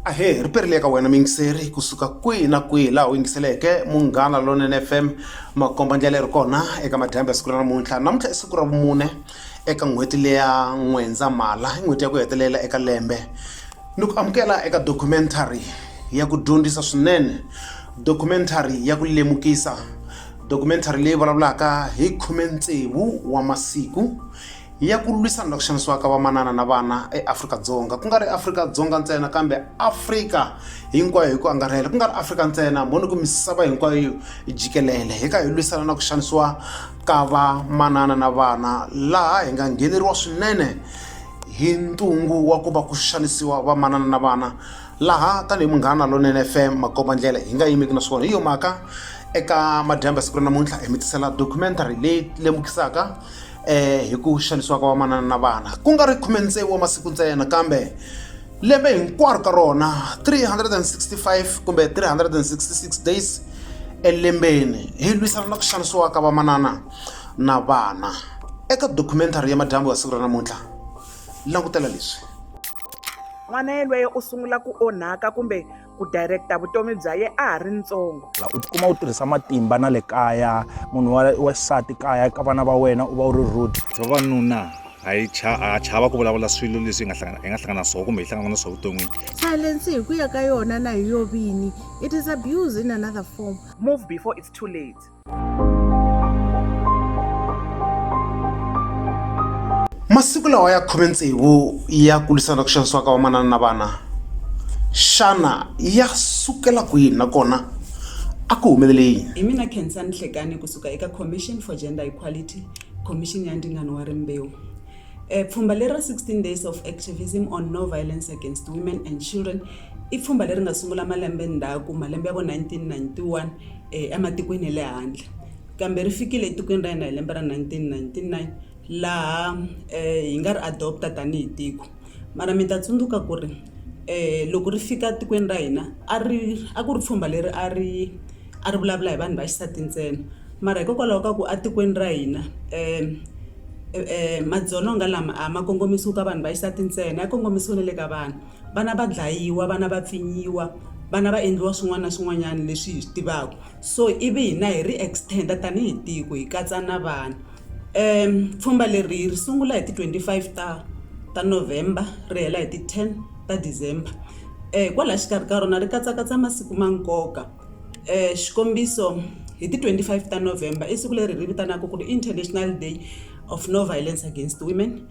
ahee ri perile eka wena miyingiseri kusuka kwihi na kwihi laha u yingiseleke munghana lonene fm makomba ndlela ri kona eka madyambi ya siku ra namuntlha namuntlha i siku ra vumune eka n'hweti leya n'wendzamhala i n'hweti ya ku hetelela eka lembe ni ku amukela eka documentary ya ku dyondzisa swinene documentary ya ku lemukisa Documentary leyi vulavulaka hi khume tsevu wa masiku ya ku lwisana na ku xanisiwaka vamanana na vana eAfrika-Dzonga ku nga ri Afrika-Dzonga ntsena kambe Afrika hinkwayo hi ku angarhela ku nga ri Afrika ntsena mhoni ku misava hinkwayo jikelele hi ka hi lwisana na ku xanisiwa ka vamanana na vana laha hi nga ngheneriwa swinene hi ntungu wa ku va ku xanisiwa vamanana na vana laha tanihi munghana lonene fm makomba ndlela hi nga yimeki na swona hi yo mhaka eka madyambu ya siku ra namuntlha hi mi tisela documentary leyi lemukisaka um hi ku xanisiwa ka vamanana na vana ku nga ri khume tsevu wa masiku ntsena kambe lembe hinkwaro ka rona 365 kumbe 366 days elembeni hi lwisana na ku xanisiwa ka vamanana na vana eka documentary ya madyambu ya siku ra namuntlha langutela leswi n'wana yelweyo u sungula ku onhaka kumbe ku directa vutomi bya ye a ha ri ntsongo u tikuma u tirhisa matimba na le kaya munhu wa xisati kaya ka vana va wena u va u ri rude vavanuna a yi a chava ku vulavula swilo leswi hi nga hlangana hi nga hlangana swona kumbe hi hlangana na swona vuton'wini silence hi ku ya ka yona na hi yo vini it is abuse in another form move before it's too late masiku lawa ya khume tsevu ya kulisana ku xanisiwa ka vamanana na vana xana ya sukela kwini nakona a ku humelele yini hi mina khensani hlekani kusuka eka commission for gender equality commission ya ndingano wa rimbewu Eh, pfhumba leri ra 16 days of activism on no violence against women and children i pfhumba leri nga sungula malembe ndzhaku malembe ya vo 1991 ematikweni ya le handle kambe ri fikile etikweni ra hina hi lembe ra nineteen ninety nine laha hi nga ri adopt-a tanihi tiko mara mi ta tsundzuka ku ri loko ri fika etikweni ra hina a ri a ku ri pfhumba leri a ri a ri vulavula hi vanhu va xisati ntsena mara hikokwalaho ka ku etikweni ra hina madzolonga lama a ma kongomisiwi ka vanhu va xisati ntsena ya kongomisiwe na le ka vana. Vana va dlayiwa, vana va pfinyiwa, vana va endliwa swin'wana na swin'wanyana leswi hi swi tivaka. So ivi hina hi ri extender tanihi tiko hi katsa na vana. Um pfhumba leri ri sungula hi ti 25 ta ta November ri hela hi ti 10 ta December. Um kwalaya xikarhi ka rona ri katsakatsa masiku ma nkoka. Um xikombiso hi ti 25 ta November i siku leri hi ri vitanaka ku ri International Day of No Violence Against Women.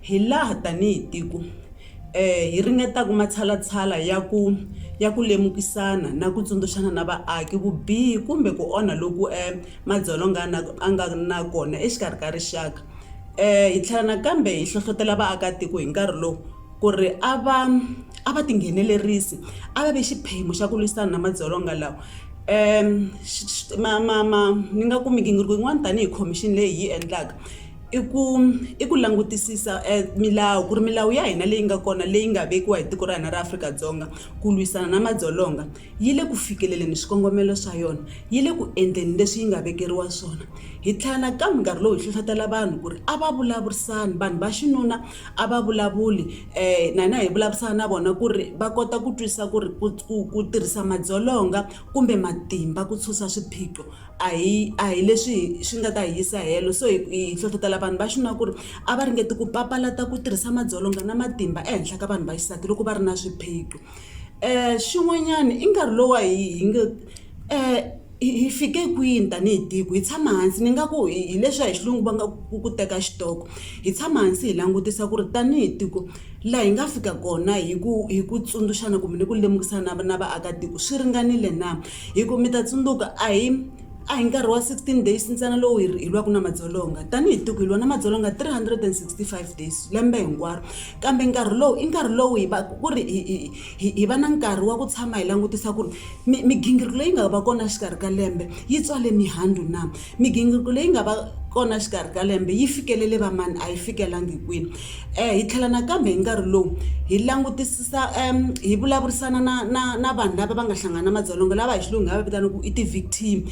Hilaha tanihi tiko hi ringetaka matshalatshala ya ku ya ku lemukisana na ku tsundzuxana na vaaki vubihi kumbe ku onha loku madzolonga a nga na kona exikarhi ka rixaka, hi tlhela nakambe hi hlohlotela vaakatiko hi nkarhi lowu ku ri a va a va tinghenelerisi a va vi xiphemu xa ku lwisana na madzolonga lawa. Ni nga ku migingiriko yin'wana tanihi khomixini leyi hi yi endlaka. i ku i ku langutisisa milawu ku ri milawu ya hina leyi nga kona leyi nga vekiwa hi tiko ra hina ra Afrika-Dzonga ku lwisana na madzolonga yi le ku fikeleleni swikongomelo swa yona yi le ku endleni leswi yi nga vekeriwa swona hi tlhela nakambe nkarhi lowu hi hlohlotelo vanhu ku ri a va vulavurisani vanhu va xinuna a va vulavuli na hina hi vulavurisana na vona ku ri va kota ku twisisa ku ri ku ku ku tirhisa madzolonga kumbe matimba ku susa swiphiqo. a hi a hi leswi hi swi nga ta hi yisa helo so hi hi hlohlotela vanhu va xinuna ku ri a va ringeti ku papalata ku tirhisa madzolonga na matimba ehenhla ka vanhu va xisati loko va ri na swiphiqo xin'wanyana i nkarhi lowu wa hi hi nge hi fike kwini tanihi tiko hi tshama hansi ni nga ku hi hi leswiya hi xilungu va nga ku ku teka xitoko hi tshama hansi hi langutisa ku ri tanihi tiko laha hi nga fika kona hi ku hi ku tsundzuxana kumbe ni ku lemukisana na na vaakatiko swi ringanile na. Hi ku mi ta tsundzuka, a hi a hi nkarhi wa 16 days ntsena lowu hi hi lwaka na madzolonga. Tanihi tiko, hi lwa na madzolonga 365 days lembe hinkwaro. Kambe nkarhi lowu i nkarhi lowu hi va ku ri hi hi hi hi va na nkarhi wa ku tshama hi langutisa ku ri mi migingiriko leyi nga va kona exikarhi ka lembe yi tswale mihandzu na. Migingiriko leyi nga va kona exikarhi ka lembe yi fikelele vamani, a yi fikelangi kwini? Hi tlhela nakambe hi nkarhi lowu hi langutisisa hi vulavurisana na na na vanhu lava va nga hlangana na madzolonga lava hi xilungu hi nga va vitana ku i ti-victim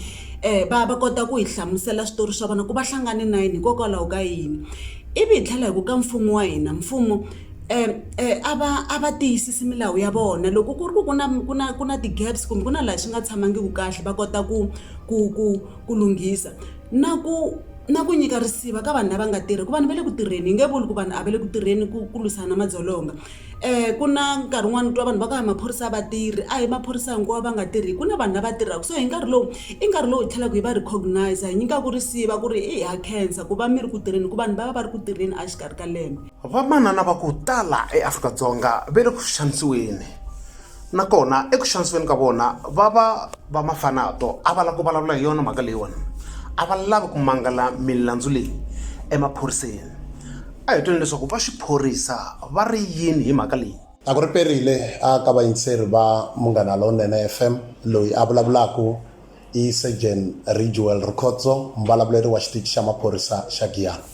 va va kota ku hi hlamusela switori swa vona ku va hlangane na yini hikokwalaho ka yini ivi hi tlhela hi ku ka mfumo wa hina mfumo a va a va tiyisisi milawu ya vona loko ku ri ku ku na ku na ku na ti-gaps kumbe ku na laha swi nga tshamangiku kahle va kota ku ku ku ku lunghisa na ku na ku nyika risiva ka vanhu lava nga tirhi ku vanhu va le ku tirheni hi nge vuli ku vanhu a va le ku tirheni ku ku lwisana na madzolonga um ku na nkarhi wun'wani u twa vanhu va ku a hi maphorisa a va tirhi a hi maphorisa hinkwawo va nga tirhi ku na vanhu lava tirhaka so hi nkarhi lowu i nkarhi lowu hi tlhelaku hi va recognize hi nyikaku risiva ku ri ha khensa ku va mi ri ku tirheni hi ku vanhu va va va ri ku tirheni a xikarhi ka lembe vamanana va ku tala eAfrika-Dzonga va le ku xanisiweni nakona eku xanisiweni ka vona va va va mafanato a va lava ku vulavula hi yona mhaka leyiwani a va lavi ku mangala milandzu leyi emaphoriseni a hi twini leswaku va xiphorisa va ri yini hi mhaka leyi a ku ri perile a ka vayingiseri va munghana lowunene fm loyi a vulavulaka i Sergeant Ridgewell Rikhotso mbulavuleri wa xitichi xa maphorisa xa Giyani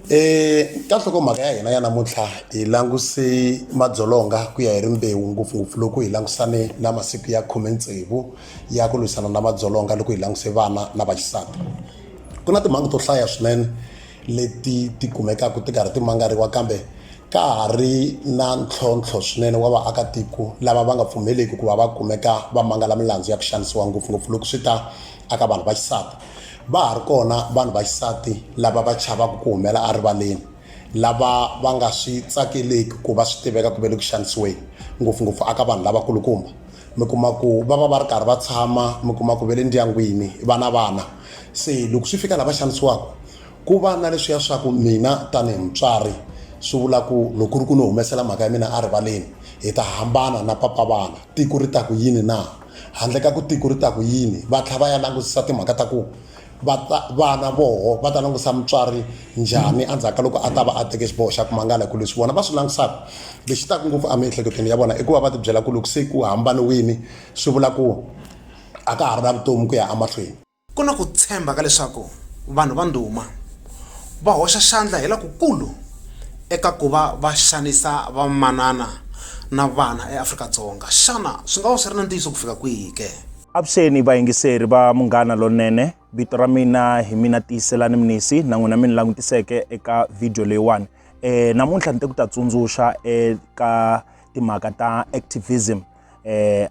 Eh ka nhlokomhaka ya hina ya namuntlha hi languse madzolonga ku ya hi rimbewu ngopfungopfu loko hi langusane na masiku ya khume tsevu ya ku lwisana na madzolonga loko hi languse vana na vaxisati ku na timhangu to hlaya swinene leti ti kumekaka ti karhi ti mangariwa kambe ka ha ri na ntlhontlho swinene wa vaakatiko lava va nga pfumeleki ku va va kumeka va mangala milandzu ya ku xanisiwa ngopfungopfu loko swi ta aka vanhu va xisati va ha ri kona vanhu va xisati lava va chavaka ku humela erivaleni lava va nga swi tsakeleki ku va swi tiveka ku ve le ku xanisiweni ngopfungopfu aka vanhu lavakulukumba mi kuma ku va va va ri karhi va tshama mi kuma ku ve le ndyangwini vana vana Se loko swi fika lava xanisiwaka ku va na leswiya swa ku mina tanihi mutswari swi vula ku loko ku ri ku ni humesela mhaka ya mina erivaleni hi ta hambana na papa vana tiko ri ta ku yini na handle ka ku tiko ri ta ku yini va tlhela va ya langutisa timhaka ta ku va ta vana voho va ta langutisa mutswari njhani endzhaku ka loko a ta va a teke xiboho xa ku mangala hi ku leswi vona va swi langutisaka lexi taka ngopfu emiehleketweni ya vona i ku va va tibyela ku loko se ku hambaniwini swi vula ku a ka ha ri na vutomi ku ya emahlweni. Ku na ku tshemba ka leswaku vanhu va ndhuma va hoxa xandla hi lokukulu eka ku va va xanisa vamanana na vana eAfrika-Dzonga. Xana swi nga va swi ri na ntiyiso ku fika kwihi ke? Avuxeni vayingiseri va Munghana Lonene, vito ra mina hi mina Tiyiselani Mnisi na n'wina mi ni langutiseke eka video leyiwani. E, namuntlha ni te ku ta tsundzuxa eka timhaka ta activism eh,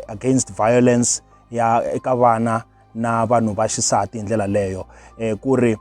against violence ya eka vana na vanhu va xisati hi ndlela leyo eh, ku ri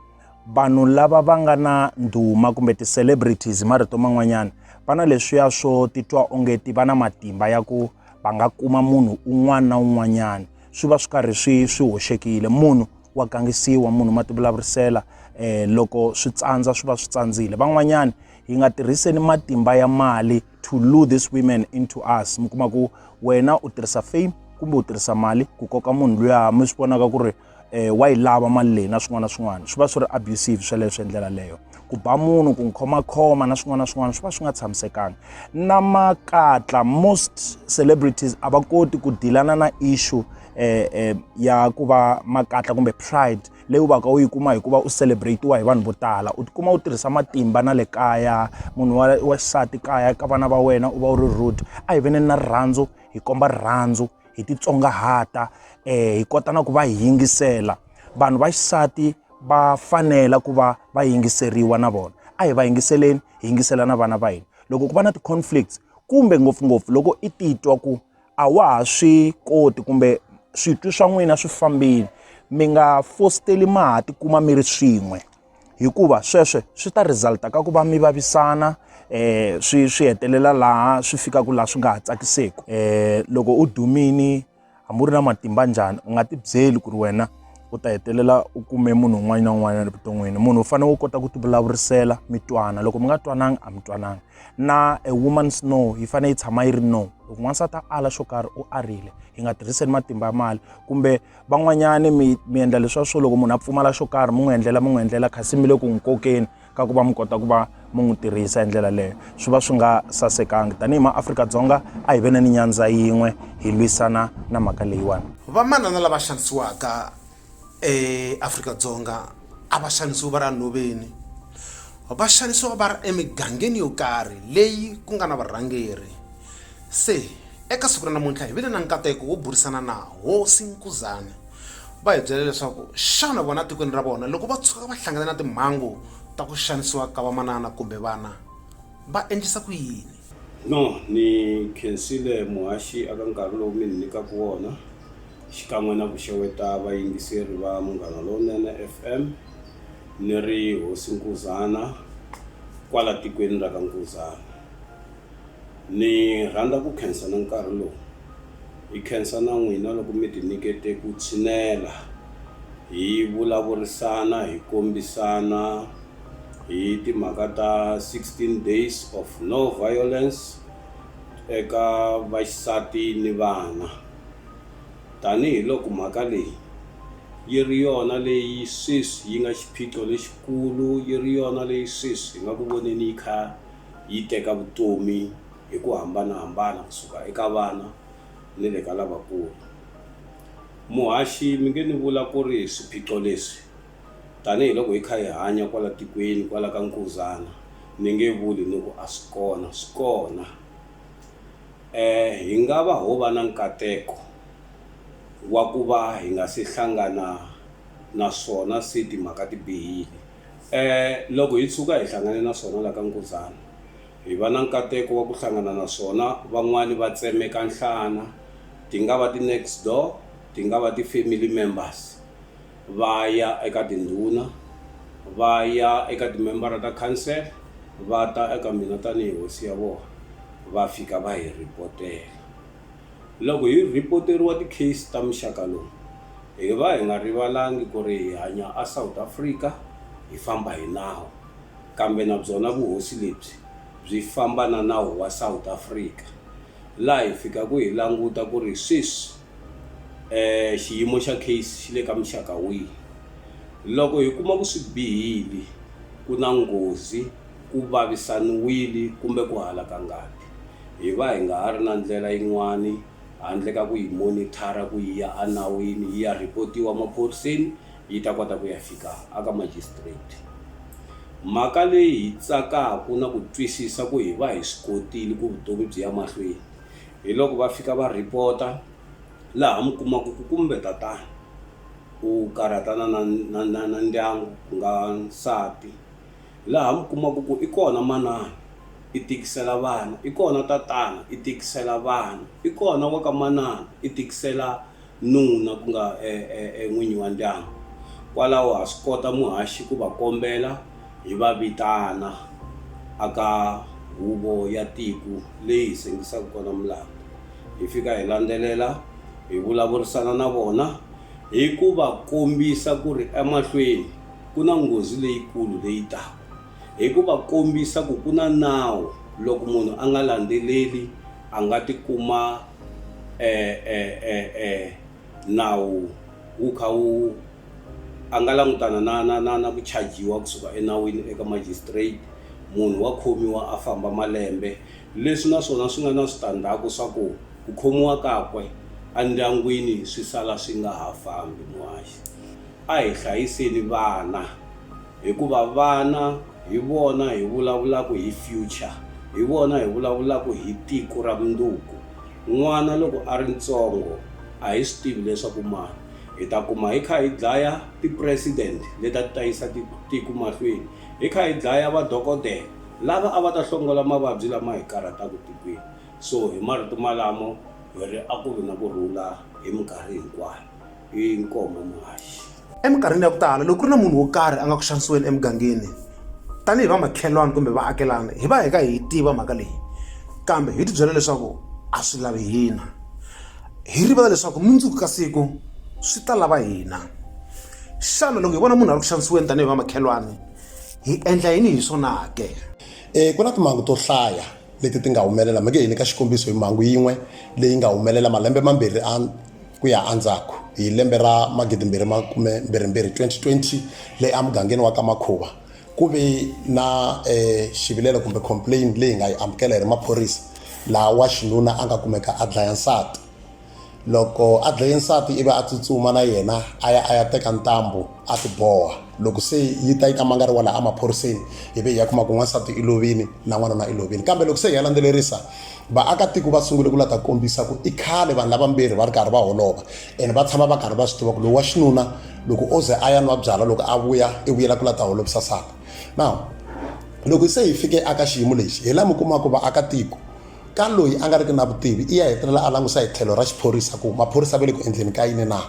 vanhu lava va nga na ndhuma kumbe ti-celebrities marito man'wanyana va na leswiya swo titwa onge ti va na matimba ya ku va nga kuma munhu un'wana na un'wanyana swi va swi karhi swi swi hoxekile munhu wa gangisiwa munhu ma tivulavurisela eh loko swi tsandza swi va swi tsandzile van'wanyana hi nga tirhiseni matimba ya mali to lure this women into us mi kuma ku wena u tirhisa fame kumbe u tirhisa mali ku koka munhu luya mi swi vonaka ku ri eh, wa yi lava mali leyi na swin'wana na swin'wana swi va swi ri abusive sweleswo hi ndlela leyo ku ba munhu ku n'wi khomakhoma na swin'wana na swin'wana swi va swi nga tshamisekanga na makatla most celebrities a va koti ku dilana na issue eh, eh, ya ku va makatla kumbe pride leyi u va ka u yi kuma hi ku va u celebrate-iwa hi vanhu vo tala u tikuma u tirhisa matimba na le kaya munhu wa wa xisati kaya ka vana va wena u va u ri rude a hi veneni na rirhandzu hi komba rirhandzu hi titsongahata um hi kota na ku va hi yingisela vanhu va xisati va fanela ku va va yingiseriwa na vona a hi va yingiseleni hi yingisela na vana va hina loko ku va na ti-conflicts kumbe ngopfungopfu loko i titwa ku a wa ha swi koti kumbe switwi swa n'wina swi fambile mi nga fositeli ma ha tikuma mi ri swin'we hikuva sweswe swi ta resulta ka ku va mi vavisana eh swi swi hetelela laha swi fikaka laha swi nga ha tsakiseki eh loko u dumini hambi u ri na matimba njhani u nga ti byeli ku ri wena u ta hetelela u kume munhu un'wana na un'wana evuton'wini munhu u fanele u kota ku ti vulavurisela mi twana loko mi nga twananga a mi twananga na a woman's no yi fanele yi tshama yi ri no loko n'wansati a ala xo karhi u arile hi nga tirhiseni matimba ya mali kumbe van'wanyani mi mi endla leswa swo loko munhu a pfumala xo karhi mi n'wi endlela mi n'wi endlela kasi mi le ku n'wi kokeni ka ku va mi kota ku va mi n'wi tirhisa hi ndlela leyo swi va swi nga sasekanga tanihi maafrika-dzonga a hi ve na ni nyandza yin'we hi lwisana na mhaka leyiwani vamanana lava xanisiwaka eAfrika-Dzonga a va xanisiwa va ri enhoveni va xanisiwa va ri emigangeni yo karhi leyi ku nga na varhangeri se eka siku ra namuntlha hi vile na nkateko wo burisana na hosi Nkuzana va hi byela leswaku xana vona etikweni ra vona loko va tshuka va hlangana na timhangu ta ku xanisiwa ka vamanana kumbe vana va endlisa ku yini. No, ni khensile muhaxi aka nkarhi lowu mi ni nyikaka wona, xikan'we na ku xeweta vayingiseri va Munghana Lowunene FM. Ni ri Hosi Nkuzana kwala tikweni ra ka Nkuzana. Ni rhandza ku khensa na nkarhi lowu, hi khensa na n'wina loko mi ti nyikete ku tshinela hi vulavurisana, hi kombisana, hi timhaka ta 16 Days of No Violence eka Vaxisati ni Vana, tanihi loko mhaka leyi yi ri yona leyi sweswi yi nga xiphiqo lexikulu, yi ri yona leyi sweswi hi nga ku voneni yi kha yi teka vutomi hi ku hambana-hambana ku suka eka vana ni le ka lavakulu. Muhaxi, mi nge ni vula ku ri swiphiqo leswi. Tanihi loko hi kha hi hanya kwala tikweni kwala ka Nkuzana ni nge vuli ni ku a swi kona, swi kona. Hi nga va ho va na nkateko wa ku va hi nga se hlangana na swona se timhaka ti bihile. Loko hi tshuka hi hlangane na swona la ka Nkuzana hi va na nkateko wa ku hlangana na swona van'wani va tsemeka nhlana ti nga va ti next door ti nga va ti family members. va ya eka tindhuna, va ya eka timembara ta khansele, va ta eka mina tanihi hosi ya vona, va fika va hi rhipotela. Loko hi rhipoteriwa tikheyisi ta muxaka lowu, hi va hi nga rivalangi ku ri hi hanya eSouth Africa, hi famba hi nawu, kambe na byona vuhosi lebyi byi famba na nawu wa South Africa. laha hi fikaka hi languta ku ri sweswi xiyimo xa case xi le ka muxaka wihi. Loko hi kuma ku swi bihile, ku na nghozi, ku vavisaniwile kumbe ku halaka ngati, hi va hi nga ha ri na ndlela yin'wana handle ka ku yi monitor-a ku yi ya enawini yi ya report-iwa maphoriseni. yi ta kota ku ya fika aka Magistrate. Mhaka leyi hi tsakaku na ku twisisa ku hi va hi swi kotile ku vutomi byi ya mahlweni hi loko va fika va report-a laha mi kumaku ku kumbe tatana u karhatana na na na na ndyangu ku nga nsati laha mi kumaku ku i kona manana i tikisela vana i kona tatana i tikisela vana i kona wa ka manana i tikisela nuna ku nga e, e, e n'winyi wa ndyangu. Kwalaho ha swi kota muhaxi ku va kombela hi va vitana aka huvo ya tiku leyi hi sengisaka kona mulandu. Hi fika hi landzelela hi vulavurisana na vona hi ku va kombisa ku ri emahlweni ku na nghozi leyikulu leyi taka. Hi ku va kombisa ku ku na nawu loko munhu a nga landzeleli a nga ti kuma e, e, e, e, nawu wu kha wu a nga langutana na na na na ku chajiwa kusuka enawini eka magistrate munhu wa khomiwa a famba malembe leswi na swona swi nga na switandzhaku swa ku ku khomiwa kakwe endyangwini swi sala swi nga ha fambi muhaxi a hi hlayiseni vana. Hikuva vana hi vona hi vulavulaka hi future, hi vona hi vulavulaka hi tiko ra mundzuku. N'wana loko a ri ntsongo a hi swi tivi leswaku mara hi ta kuma hi kha hi dlaya ti president leti a ti ta yisa tiko mahlweni, hi kha hi dlaya va dokodela lava a va ta hlongola mavabyi lama hi karhataka tikweni. So hi marito malamo hi ri a ku vi na ku rhula hi minkarhi hinkwayo. i nkomo muhaxi eminkarhini ya ku tala loko ku ri na munhu wo karhi a nga ku xanisiweni emugangeni tanihi va makhelwani kumbe vaakelana hi va hi ka hi tiva mhaka leyi kambe hi tibyela leswaku a swi lavi hina hi rivala leswaku mundzuku ka siku swi ta lava hina xana loko hi vona munhu a ri ku xanisiweni tanihi va makhelwani hi endla yini hi swona ke um ku na timhangu to hlaya leti ti nga humelela mi nge hi nyika xikombiso hi mhangu yin'we leyi nga humelela malembe mambirhi a ku ya endzhaku hi lembe ra magidimbirhi makume mbirhimbirhi 2020 leyi emugangeni wa ka makhuva ku ve na um xivilelo kumbe complain leyi nga yi amukela hi ri maphorisa laha wa xinuna a nga kumeka a dlaya nsati loko a dlaye nsati ivi a tsutsuma na yena a ya a ya teka ntambu a ti boha loko se yi ta yi ta mangariwa laha emaphoriseni ivi hi ya kuma ku n'wansati i lovini na n'wanuna i lovini kambe loko se hi ya landzelerisa vaakatiko va sungule ku la ta kombisa ku i khale vanhu lavambirhi va ri karhi va holova ene va tshama va karhi va swi tiva ku lowu wa xinuna loko o ze a ya nwa byala loko a vuya i vuyela ku la ta holovisa saka now loko se hi fike aka xiyimo lexi hi laha mi kumaka vaakatiko ka loyi a nga riki na vutivi i ya hetelela a langusa hi tlhelo ra xiphorisa ku maphorisa va le ku endleni ka yini na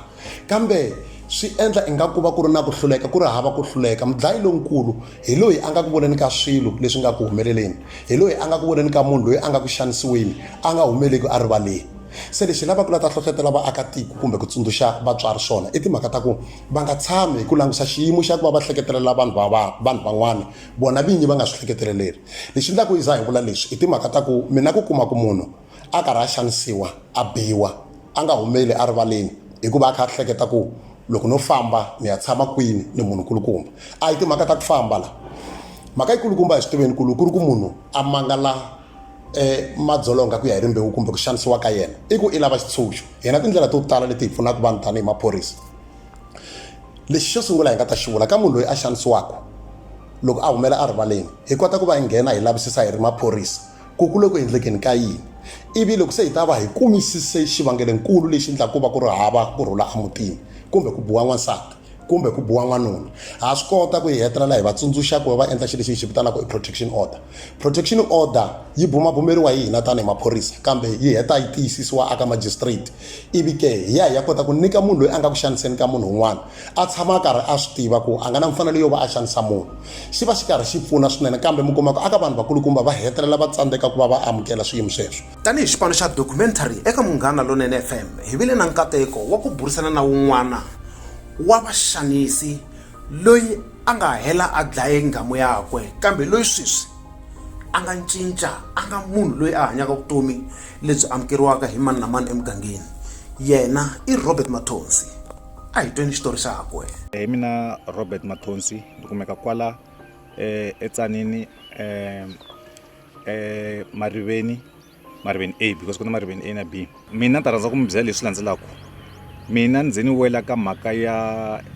kambe swi endla ingaku ku va ku ri na ku hluleka ku ri hava ku hluleka mudlayi lonkulu hi loyi a nga ku voneni ka swilo leswi nga ku humeleleni hi loyi a nga ku voneni ka munhu loyi a nga ku xanisiweni a nga humeleki a rivaleni se lexi lavaka la ta hlohlotela vaakatiko kumbe ku tsundzuxa vatswari swona i timhaka ta ku va nga tshami hi ku langusa xiyimo xa ku va va hleketelela vanhu va va vanhu van'wana vona vinyi va nga swi hleketeleleli Lexi endlaku yi za hi vula leswi i timhaka ta ku mi na ku kuma ku munhu a karhi a xanisiwa a biwa a nga humeli erivaleni hikuva a kha a hleketa ku loko no famba ni ya tshama kwini ni munhu kulukumba a hi timhaka ta ku famba la mhaka yikulukumba hi swi tiveni kulu ku ri ku munhu a mangala um madzolonga ku ya hi rimbewu kumbe ku xanisiwa ka yena i ku i lava xitshunxo hina tindlela to tala leti hi pfunaka vanhu tanihi maphorisa lexi xo sungula hi nga ta xi vula ka munhu loyi a xanisiwaka loko a humela erivaleni hi kota ku va hi nghena hi lavisisa hi ri maphorisa ku ku le ku endlekeni ka yini ivi loko se hi ta va hi kumisise xivangelenkulu lexi endlaka ku va ku ri hava ku rhula emutini kumbe ku biwa n'wansati kumbe ku biwa n'wanuna ha swi kota ku hi hetelela hi va tsundzuxa ku va va endla xilo lexi hi xi vitanaka i protection order protection order yi bumabumeriwa hi hina tanihi maphorisa kambe yi heta yi tiyisisiwa aka magistrate Ivi ke, hi ya hi ya kota ku nyika munhu loyi a nga ku xaniseni ka munhu un'wana a tshama a karhi a swi tiva ku a nga na mfanelo yo va a xanisa munhu, xi va xi karhi xi pfuna swinene. Kambe mi kuma ku aka vanhu vakulukumba va hetelela va tsandzeka ku va va amukela swiyimo sweswo. Tanihi xipano xa Documentary eka Munghana Lonene FM, hi vile na nkateko wa ku burisana na wun'wana wa vaxanisi loyi a nga hela a dlaye nghamu yakwe kambe loyi sweswi, a nga cinca a nga munhu loyi a hanyaka vutomi lebyi amukeriwaka hi mani na mani emugangeni yena i robert mathonsi a hi tweni xitori xakwe hi mina robert mathonsi ni kumeka kwala um etsanini um um mariveni mariveni a because ku na mariveni a na b mina ni ta rhandza ku mi byela leswi landzelaka mina ndzi ni wela ka mhaka ya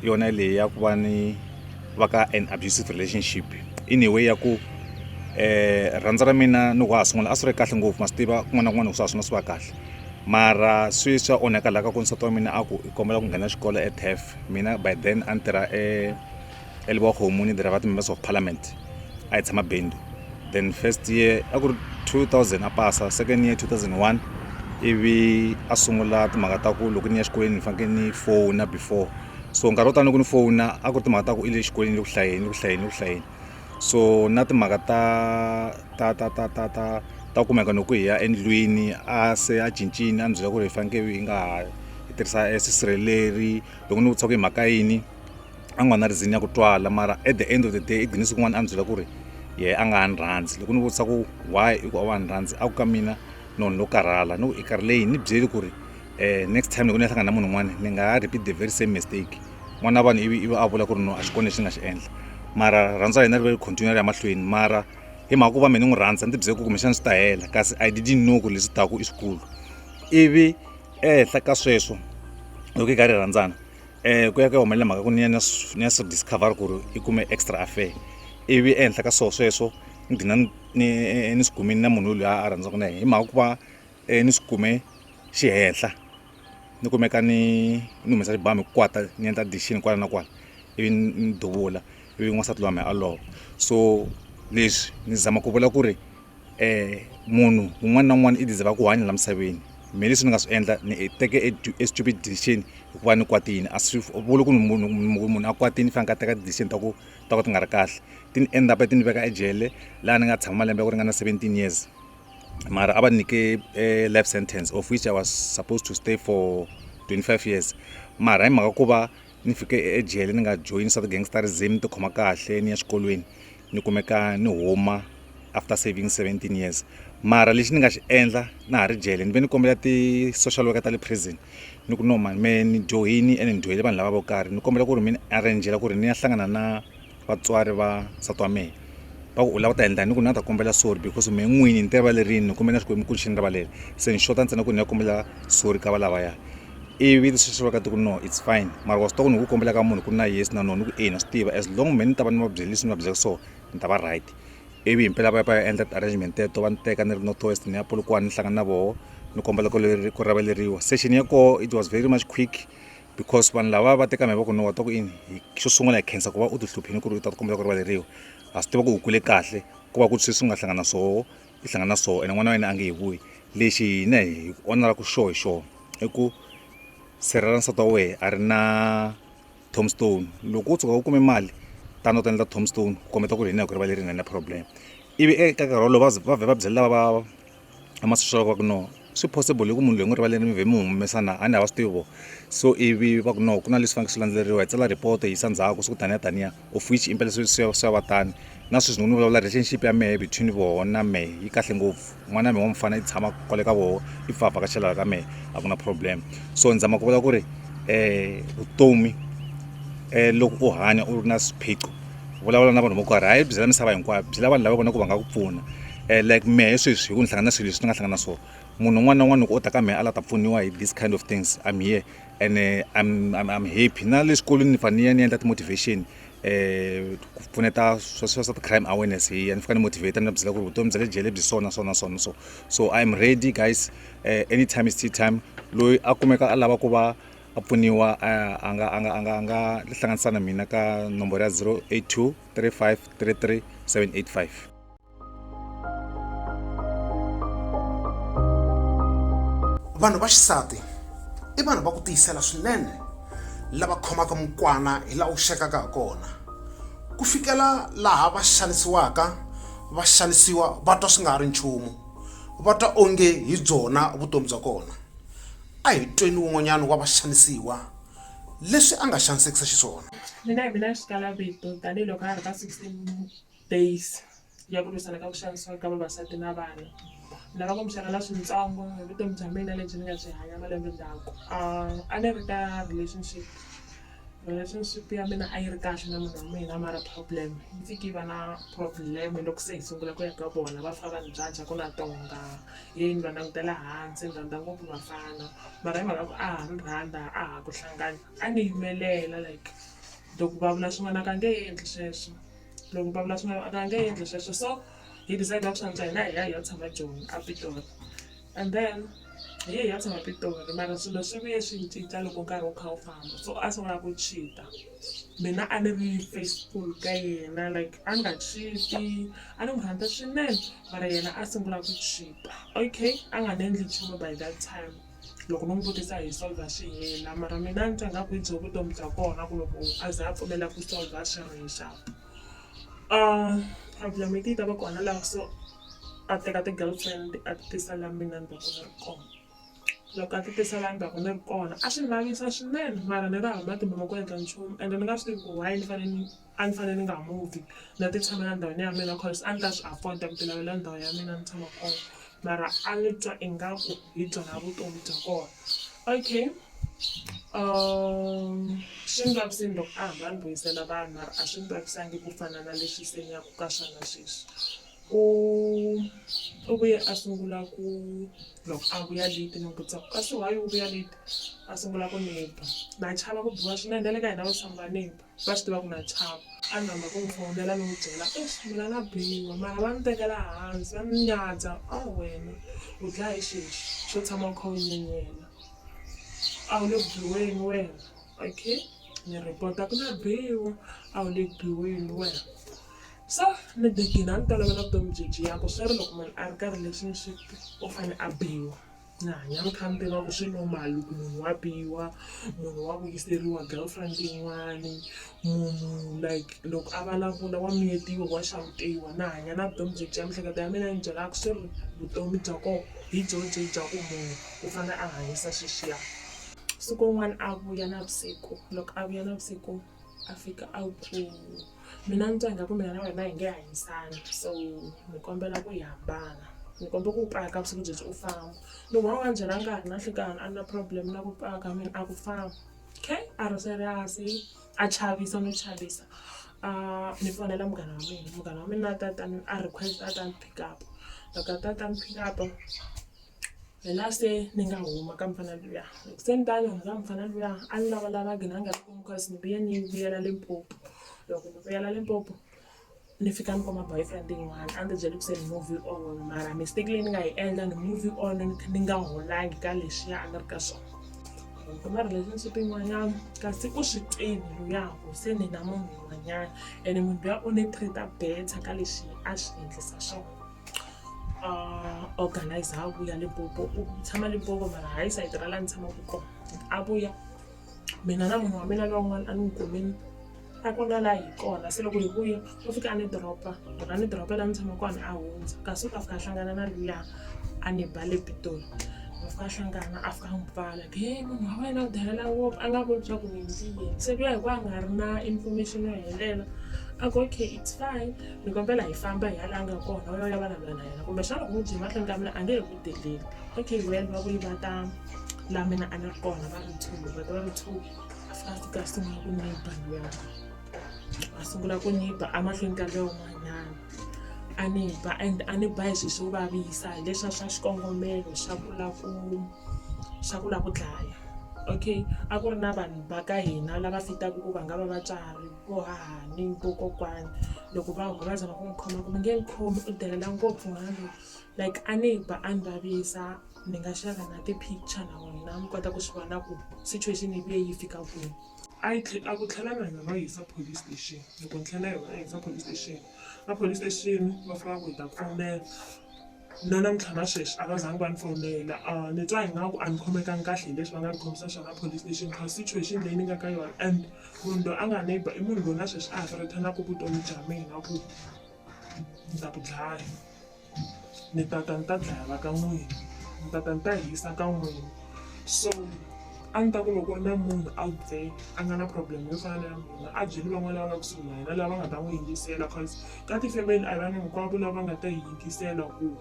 yona leyi ya ku va ni va ka an abusive relationship in a way ya ku eh rhandza ra mina ni wa ha sungula a swi ri kahle ngopfu ma swi tiva kun'wana na kun'wana swa ha sungula swi va kahle mara sweswi swa onhaka laha ka ku nsati wa mina a ku i kombela ku nghena xikolo e taf mina by then a ni tirha e ya leboga kgomo ni dira ka members of parliament a e tshama bendu then first year a ku ri 2000 a pasa second year 2001 ivi a sungula timhaka ta ku loko ni ya xikolweni ni fanekele ni fona before so nkarhi wo tani loko ni fona a ku ri timhaka ta ku i le xikolweni le ku hlayeni le ku hlayeni le ku hlayeni so na timhaka ta ta ta ta ta ta ta kumeka loko hi ya endlwini a se a cincini a ni byela ku ri hi fanekele hi nga ha hi tirhisa sisirheleri loko ni vutisa ku hi mhaka yini a nga na reason ya ku twala mara at the end of the day i gine siku n'wana a ni byela ku ri yehe a nga ha ni rhandzi loko ni vutisa ku why i ku a wa ni rhandzi a ku ka mina nonho lo karhala ni ku i karhi leyi ni byeli ku ri um next time loko ni ya hlangana na munhu un'wana ni nga ha repeat the very same mistake n'wana wa vanhu ivi ivi a vula ku ri no a xi kona lexi ni nga xi endla mara rhandza ya hina ri va ri continue ri ya mahlweni mara hi mhaka ku va mina ni n'wi rhandza ni tibyele ku kumbexana swi ta hela kasi i didn't know ku leswi taku i swikulu ivi ehenhla ka sweswo loko hi karhi hi rhandzana um ku ya ku ya humelela mhaka ku ni ya ni ya ni ya swi discover ku ri i kume extra affair ivi ehenhla ka swona sweswo ni dina ni ni swi kumini na munhu loyi a rhandzaka na yena hi mhaka ku va um ni swi kume xi henhla ni kumeka ni ni humesa xibamu hi ku kwata ni endla addition kwala na kwala ivi ni duvula ivi n'wansati loyi wa mina a lova so leswi ni zama ku vula ku ri. um munhu un'wana na un'wana i deserve-a ku hanya laha misaveni me leswi ni nga swi endla ni teke e e stupid decision hikuva ni kwatile a swi vuli ku ni munhu munhu a kwatile ni faneke a teka ti-decision ta ku ta ku ti nga ri kahle ti ni end up-a ti ni veka ejele laha ni nga tshama malembe ya ku ringana seventeen years mara a va ni nyike e life sentence of which I was supposed to stay for twenty five years mara hi mhaka ku va. ni fike ejele ni nga joyini swa ti-gangsterism ni tikhoma kahle ni ya xikolweni ni kumeka ni huma after saving seventeen years mara lexi ni nga xi endla na ha ri jele ni ve ni kombela ti-social worker ta le prison ni ku no mani mehe ni dyohini ene ni dyohele vanhu lava vo karhi ni kombela ku ri mi ni arrange-ela ku ri ni ya hlangana na vatswari va nsati wa mehe va ku u lava ku ta endla ni ku ni nga ta kombela sorry because mehe n'wini ni ti rivalerini ni kumbe na xikwembu ku xi ni rivalele se ni xota ntsena ku ni ya kombela sorry ka va lavaya ivi leswi swi vaka ti ku no it's fine mara wa swi tiva ku ni ku kombela ka munhu ku ri na yes na no ni ku eya na swi tiva as long mehe ni ta va ni va byele leswi ni va byelaka swona ni ta va right ivi hi mpela va ya va ya endla ti-arrangement teto va ni teka ni ri north west ni ya polokwane ni hlangana na voho ni kombela ku ku rivaleriwa session ya koho it was very much quick. because vanhu lava va teka mavoko no wa ta ku ini xo sungula hi khensa ku va u ti hluphini ku ri u ta kombela ku rivaleriwa ha swi tiva ku u kule kahle ku va ku sweswi nga hlangana swoho i hlangana swoho ene n'wana wa yena a nge hi vuyi lexi hina hi onela ku xoho hi xoho i ku sirhela nsati wa wehe a ri na tomstone loko u tshuka u kume mali tano ta endla tomstone ku kombeta ku ri hina hi ku rivalerina na problem ivi eka nkarhi wolowo va vhe va byela lava va a ma swi swi va ku no swi possible hi ku munhu loyi n'wi rivaleni mi vhe mi n'wi humesa na a ni hava swi tivi vo so ivi va ku no ku na leswi fanekele swi landzeleriwa hi tsala report hi yisa ndzhaku swi ku taniya taniya of which impela swi swi swi ya va tani na sweswi ni ku ni vulavula relationship ya mehe between voho na mehe yi kahle ngopfu n'wana wa mehe wa mufana i tshama kwale ka voho i pfa a vhakachela la ka mehe a ku na problem so ni zama ku vula ku ri vutomi loko u hanya u ri na swiphiqo vulavula na vanhu vo karhi hayi byela misava hinkwayo byela vanhu lava vona ku va nga ku pfuna um like mehe sweswi hi ku ni hlangana na swilo leswi ni nga hlangana na swona munhu un'wana na un'wana loko o ta ka mehe a la ta pfuniwa hi this kind of things im here and im eh, im happy na le xikolweni ni fane ni ya ni endla ti-motivation um ku pfuneta swa swa ti-crime awareness hi ya ni fika ni motivate ni va byela ku ri vutomi bya le jele byi sona sona sona so so im ready guys um anytime is tea time loyi a kumeka a lava ku va a pfuniwa a a nga a nga a nga a nga tihlanganisa na mina ka nomboro ya 082 35 33 785 vanhu va xisati i vanhu va ku tiyisela swinene lava khomaka mukwana hi laha wu xekaka ha kona ku fikela laha va xanisiwaka va xanisiwa va twa swi nga ha ri nchumu va twa onge hi byona vutomi bya kona A hi tweni wun'wanyana wa vaxanisiwa leswi a nga xanisekisa xiswona. Mina hi mina xikalavito tanihi loko ha ha ri ka 16 days ya ku lwisana ka ku xanisiwa ka vavasati na vana. Ni lava ku mi xerhela swintsongo hi vutomi bya mina lebyi ni nga byi hanya malembe ndzhaku. A ni ri ka relationship. Relationship ya mina a yi ri kahle na munhu wa mina mara problem yi fike yi va na problem loko se hi sungula ku ya ka vona va fika va ni judge ku na tonga hi ni va langutela hansi ni rhandza ngopfu vafana mara hi mhaka ku a ha ni rhandza a ha ku hlangana a ni yimelela like loko va vula swin'wana a ka nge endli sweswo loko va vula swin'wana a ka nge endli sweswo so hi decide ku swa antswa hina hi ya hi ya tshama joni a Pitori. and then hi ye hi ya tshama Pitori mara swilo swi vuye swi cinca loko nkarhi wu kha wu famba so a sungula ku cheat-a mina a ni ri faithful ka yena like a nga cheat-i a ni n'wi rhandza swinene mara yena a sungula ku cheat-a okay a nga ni endli nchumu by that time loko no n'wi vutisa hi solver swi hela mara mina a ni twa ngaku hi byo vutomi bya kona ku loko a za a pfumela ku solver swi ri hi xap problem yi te yi ta va kona la so. a teka ti-girlfriend a ti tisa la mina ni va ka ni ri kona. Loko a ti tisa la ni va ka ni ri kona a swi ni vavisa swinene mara ni ri hava matimba ma ku endla nchumu ende ni nga swi tivi ku why ni fanele ni a ni fanele ni nga move-i ni ya ti tshamela ndhawini ya mina coz a ni ta swi afford-a ku ti lavela ndhawu ya mina ni tshama kona mara a ni twa ingaku hi byona vutomi bya kona. Okay swi ni vavisile loko a hamba a ni vuyisela vanhu mara a swi ni vavisangi ku fana na leswi se ni ya ku ka swona sweswi. U u vuye a sungula ku loko a vuya late ni n'wi vutisa ku kasi why u vuya late a sungula ku ni ba na chava ku biwa swinene na le ka hina vaxisati va ni ba va swi tiva ku na chava a ni rhandza ku n'wi fonela ni n'wi byela eish mina na biwa mara va ni tekela hansi va ni nyadza a wena u dlaya hi xihi lexi xo tshama u kha u nyenyela a wu le ku biweni wena okay ni report-a ku na biwa a wu le ku biweni wena. So ni begin a ni tolovela vutomi byi byiyaka swi ri loko munhu a ri ka relationship u fane a biwa ni hanya ni kha ni tiva ku swi normal ku munhu wa biwa munhu wa vuyiseriwa girlfriend yin'wani munhu like loko a vulavula wa miyetiwa wa xawutiwa na hanya na vutomi byi byiya mihleketo ya mina yi ni byela ku swi ri vutomi bya koho hi byo byi bya ku munhu u fane a hanyisa swiswiya siku rin'wani a vuya navusiku loko a vuya navusiku. a fika a ku mina ni twa ingaku mina na wena hi nge hanyisani so ni kombela ku hi hambana ni kombe ku paka vusiku byebyi u famba loko a wu nga ni byelanga ka ha ri na nhlikani a ni na problem na ku paka mina a ku famba kay a ri serious-i a chavisa no chavisa a ni fonela munghana wa mina munghana wa mina a ta a ta ni a request a ta ni pick up loko a ta a ta ni pick up. Hi laha se ni nga huma ka mufana luya loko se ni ta ni huma ka mufana luya a ni lavalavanga na ha nga ri kona cause ni vuye ni vuyela Limpopo loko ni vuyela Limpopo ni fika ni kuma boyfriend yin'wana a ni tibyele ku se ni move on mara mistake leyi ni nga yi endla ni move on ni kha ni nga holangi ka leswiya a ni ri ka swona ni kuma relationship yin'wanyana kasi u swi tiva luya ku se ni na munhu un'wanyana ene munhu luya u ni treat-a better ka leswi a swi endlisa swona. organizer a vuya limpopo u tshama limpopo mara hayi sayiti ra laha ni tshamaka kona a vuya mina na munhu wa mina lowun'wana a ni n'wi kumini a ku na laha hi kona se loko hi vuya u fika a ni doropa loko a ni doropa laha ni tshama kona a hundza kasi u ta fika a hlangana na luya a ni ba le pitori va fika a hlangana a fika a n'wi pfala ku he munhu wa wena u delela ngopfu a nga voni swa ku ni endliyini se luya hi ku a nga ri na information yo helela a ku okay it's fine ni kombela hi famba hi ya laha a nga kona u ya u ya vulavula na yena kumbexana u n'wi byele mahlweni ka mina a nge he ku deleli okay well va vuyi va ta laha mina a ni ri kona va ri two va ta va ri two a fika a fika a sungula ku nyiba luya a sungula ku nyiba emahlweni ka luya un'wanyana a ni ba and a ni ba hi swilo swo vavisa hi leswiya swa xikongomelo xa ku la ku xa ku la ku dlaya okay a ku ri na vanhu va ka hina lava fitaka ku va nga va vatswari ku haha ni vokokwani loko va va zama ku n'wi khoma ku mi nge ni khomi u delela ngopfu n'wana loyi like a ni ba a ni vavisa ni nga xava na ti-picture na n'wina mi kota ku swi vona ku situation yi vuye yi fika kwini a yi a ku tlhela na hina va yi yisa police station loko ni tlhela na yona a yi yisa police station va police station va fika va ku hi ta khomela. na namuntlha na sweswi a va zangi va ni fonela ni twa ingaku a ni khomekangi kahle hi leswi va nga ni khomisa swona police station coz situation leyi ni nga ka yona and munhu loyi a nga ni ba i munhu loyi na sweswi a ha threaten-aka vutomi bya mina ku ni ta ku dlaya ni ta ta ni ta dlaya va ka n'wina ni ta ta ni ta hisa ka n'wina so a ni ta ku loko ku ri na munhu out there a nga na problem yo fana na ya mina a byeli van'wana lava nga kusuhi na yena lava nga ta n'wi yingisela coz. ka tifemeli a vanhu hinkwavo lava nga ta hi yingisela ku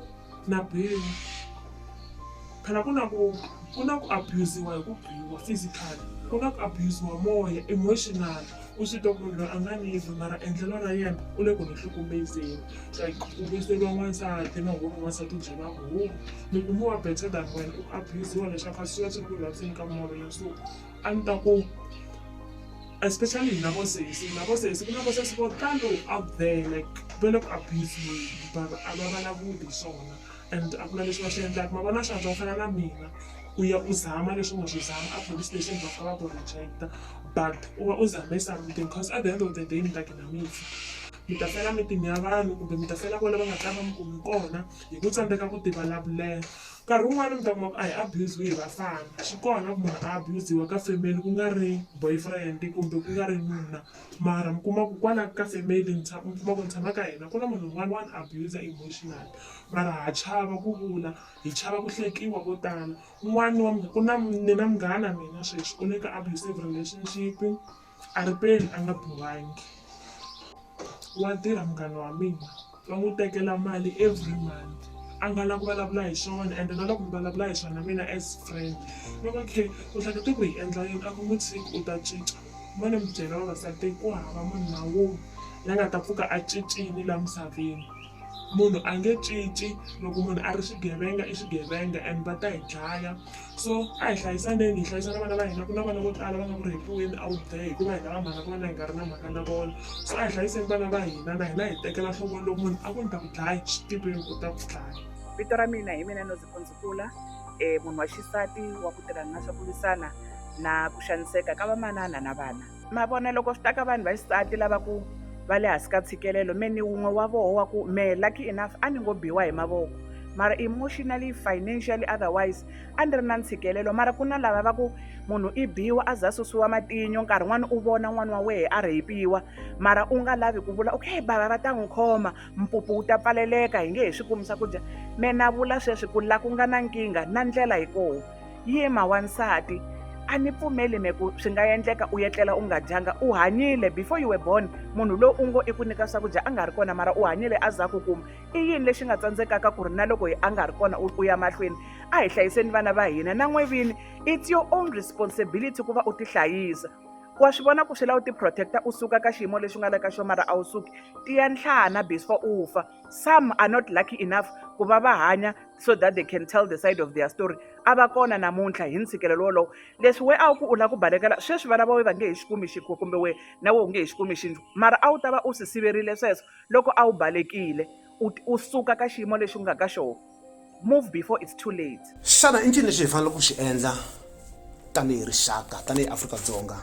na biwa phela ku na ku ku na ku abusiwa hi ku biwa physically ku na ku abusiwa moya emotional u swi twa ku munhu loyi a nga ni yivi mara endlelo ra yena u le ku ni hlukumezeni like ku vuyiseriwa n'wansati na home n'wansati u byela home mi kumiwa better than wena u abusiwa leswaku a swi va swi ri ku vaviseni ka moya so A ndzi ta ku especially hina vo sesi hina vo sesi ku na vo sesi vo talo out there like va le ku abuse-weni but a va vulavuli hi swona and a ku na lexi va xi endlaka ma vona swantswa ku fana na mina u ya u zama leswi u nga swi zama a police station va fika va ku reject-a but u va u zame something coz at the end of the day mi ta gina mi fa mi ta fela mimitini ya vanhu kumbe mi ta fela kwale va nga ta va mi kumi kona hi ku tsandzeka ku tivulavulela. nkarhi wun'wani mi ta kuma ku a hi abuse-we hi vafana swi kona ku munhu a abuse-wa ka family ku nga ri boyfriend kumbe ku nga ri nuna mara mi kuma ku kwala ka family mi mi kuma ku ni tshama ka hina ku na munhu un'wana wa ni abuser emotional mara ha chava ku vula hi chava ku hlekiwa ko tala un'wani wa ku na ni na munghana mina sweswi u le ka abusive relationship. A ri peni a nga bohangi. Wa tirha munghana wa mina, va n'wi tekela mali every month. A nga lavi ku vulavula hi swona ende na loko mi vulavula hi swona mina as friend, va ngo okay u hlekete ku hi endla yini? A ku n'wi tshiki u ta cinca. Mo ni mi byela vavasati ku hava munhu na wun'we la nga ta pfuka a cincile laha misaveni. Munhu a nge cinci, loko munhu a ri xigevenga i xigevenga and va ta hi dlaya. so a hi hlayisaneni hi hlayisa na vana va hina ku na vana vo tala va nga ku rhepiweni out there hikuva hina va mhaka ku vana hi nga ri na mhaka na vona so a hi hlayiseni vana va hina na hina hi tekela nhlokweni loko munhu a ku ni ta ku dlaya swi tiveni ku ta ku dlaya vito ra mina hi mina noziphondzikula um eh, munhu wa xisati wa ku tirhana na swa ku lwisana na ku xaniseka ka vamanana na vana ma vona loko swi ta ka vanhu va xisati lava ku va le hansi ka tshikelelo me ni wun'we wa voho wa ku me lucky enough a ni ngo biwa hi mavoko mara emotionally financially otherwise a ni ri na ntshikelelo mara ku na lava va ku munhu i biwa a za susiwa matinyo nkarhi n'wana u vona n'wana wa wehe a rheyipiwa mara u nga lavi ku vula okay bava va ta n'wi khoma mpupu wu ta pfaleleka hi nge he swi kumisa ku dya me na vula sweswi ku la ku nga na nkingha na ndlela hi kona Yima wansati a ni pfumeli me ku swi nga endleka u etlela u nga dyanga u hanyile before you were born munhu loyi u ngo i ku nyika swakudya a nga ri kona mara u hanyile a za ku kuma i yini lexi nga tsandzekaka ku ri na loko a nga ri kona u ya mahlweni a hi hlayiseni vana va hina na n'we vini it's your own responsibility ku va u tihlayisa wa swi vona ku swi lava u tiprotecta u suka ka xiyimo lexi u nga le ka xo mara a wu suki tiya nhlana before u fa some are not lucky enough ku va va hanya so that they can tell the side of their story a va kona namuntlha hi ntshikelelo wolowo leswi we a wu ku u lava ku balekela sweswi vana va we va nge hi xikumi xikho kumbe we na we u nge hi xikumi xinju mara a wu ta va u swi siverile sweswo loko a wu balekile u suka ka xiyimo lexi u nga ka xona move before it's too late xana i ncini lexi hi faneleke ku xi endla tanihi rixaka tanihi afrika-dzonga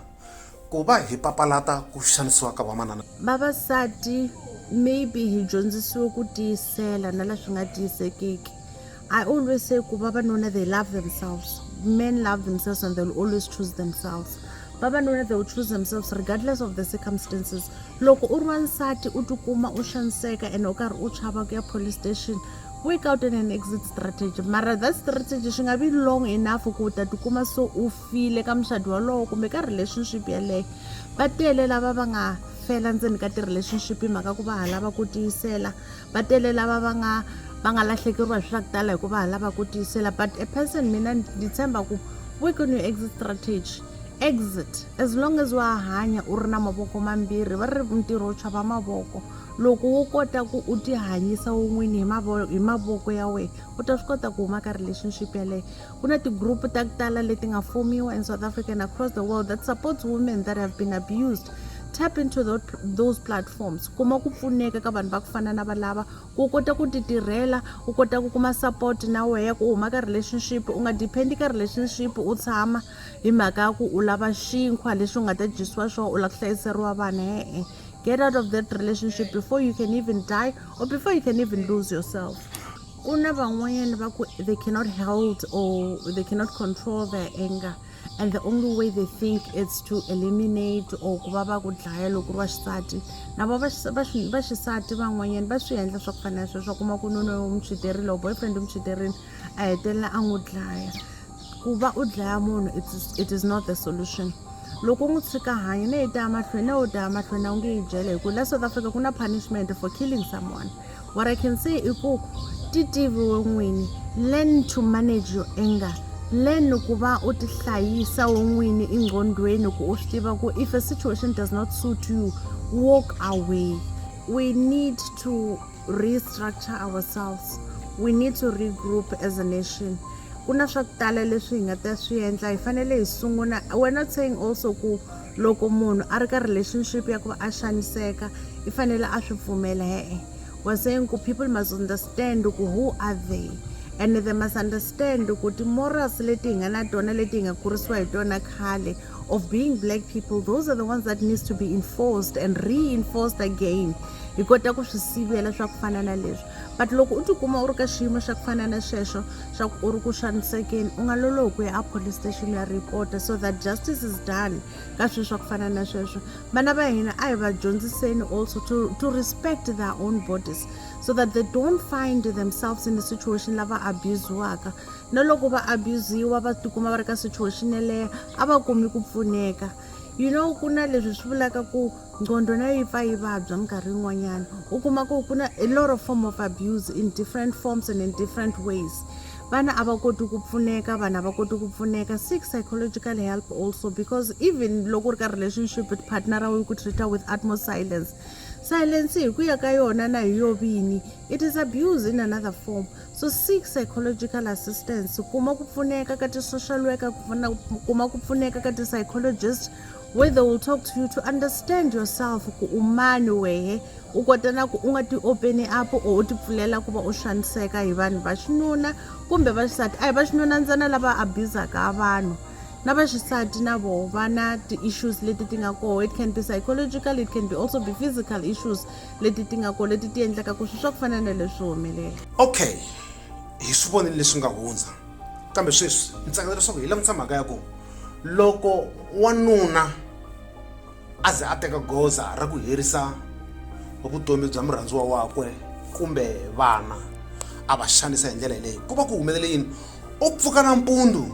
ku va hi papalata ku xanisiwa ka vamanana vavasati maybe hi dyondzisiwe ku tiyisela na leswi nga tiyisekiki i always say ku vavanuna they love themselves men love themselves and they'll always choose themselves vavanuna they will choose themselves regardless of the circumstances loko u ri wansati u tikuma u xaniseka ene u karhi u chava ku ya police station work out an, an exit strategy mara that strategy swi nga vi long enough ku u ta tikuma so u file ka muxadi walowo kumbe ka relationship yeleyo va tele lava va nga fela ndzeni ka ti-relationship hi mhaka ku va ha lava ku tiyisela va tele lava va nga va nga lahlekeriwa hi swi swa ku tala hikuva ha lava ku tiyisela but a person mina ndzi tshemba ku work on your exit strategy exit as long as wa hanya u ri na mavoko mambirhi va ri ntirho wu chava mavoko Loko wo kota ku u ti hanyisa u n'wini hi mavoko hi mavoko ya wena u ta swi kota ku huma ka relationship yeleyo ku na ti-group ta ku tala leti nga fomiwa in south africa and across the world that supports women that have been abused tap into those platforms kuma ku pfuneka ka vanhu va ku fana na valava ku u kota ku ti tirhela u kota ku kuma support na wehe ku u huma ka relationship u nga depend-i ka relationship u tshama hi mhaka ya ku u lava xinkwa lexi u nga ta dyisiwa xona u lava ku hlayiseriwa vana e-e get out of that relationship before you can even die or before you can even lose yourself ku na van'wanyana va ku they cannot hold or they cannot control their anger and the only way they think is to eliminate or ku va va ku dlaya loko ri va xisati na vo va xisati van'wanyana va swi endla swa ku fana na sweswo kuma ku nonoyo u mi chiterile or boyfriend u mi chiterile a hetelela a n'wi dlaya ku va u dlaya munhu it is not the solution loko u n'wi tshika hanya ne yi ta ya mahlweni ne u ta ya mahlweni a wu nge yi byele hi ku la south africa ku na punishment for killing someone what i can say i ku ti tiviwe n'wini learn to manage your anger learn ku va u tihlayisa wo n'wini engqondweni ku u swi tiva ku if a situation does not suit you walk away we need to restructure ourselves we need to regroup as a nation ku na swa ku tala leswi hi nga ta swi endla hi fanele hi sungula we're not saying also ku loko munhu a ri ka relationship ya ku va a xaniseka i fanele a swi pfumela e-e we're saying ku people must understand ku who are they and they must understand ku ti-morals leti hi nga na tona leti hi nga kurisiwa hi tona khale of being black people those are the ones that needs to be enforced and reinforced again hi kota ku swi sivela swa ku fana na leswi but loko u tikuma u ri ka xiyimo xa ku fana na xexo xa ku u ri ku xanisekeni u nga lolohi ku ya a police station ya report so that justice is done ka swilo swa ku fana na sweswo vana va hina a hi va dyondziseni also to, to respect their own bodies so that they don't find themselves in a situation lava abusiwaka na loko va abusiwa va tikuma va ri ka situation yeleyo a va kumi ku pfuneka you know ku na leswi swi vulaka ku nqondo na yi pfa yi vabya minkarhi yin'wanyana u kuma ku ku na a lot of form of abuse in different forms and in different ways vana a va koti ku pfuneka vanhu a va koti ku pfuneka seek psychological help also because even loko u ri ka relationship with partner ra wena ku treata with atmos silence silence hi ku ya ka yona na hi yo vini it is abuse in another form So seek psychological assistance kuma ku pfuneka ka ti-social worker kuma ku pfuneka ka ti-psychologist where they will talk to you to understand yourself ku u mani wehe u kota na ku u nga ti openi up or u ti pfulela ku va u xaniseka hi vanhu va xinuna kumbe va xisati a hi va xinuna ntsena lava abuzaka vanhu na va xisati na voho va na ti-issues leti ti nga koho it can be psychological it can be also be physical issues leti ti nga ko leti ti endlaka ku swi swa ku fana na leswi humelela okay hi swi vonile leswi nga hundza kambe sweswi ni tsakela leswaku hi langutisa mhaka ya ku loko wanuna a ze a teka goza ra ku herisa vutomi bya murhandziwa wakwe kumbe vana a va xanisa hi ndlela yeleyo ku va ku humelele yini u pfuka nampundzu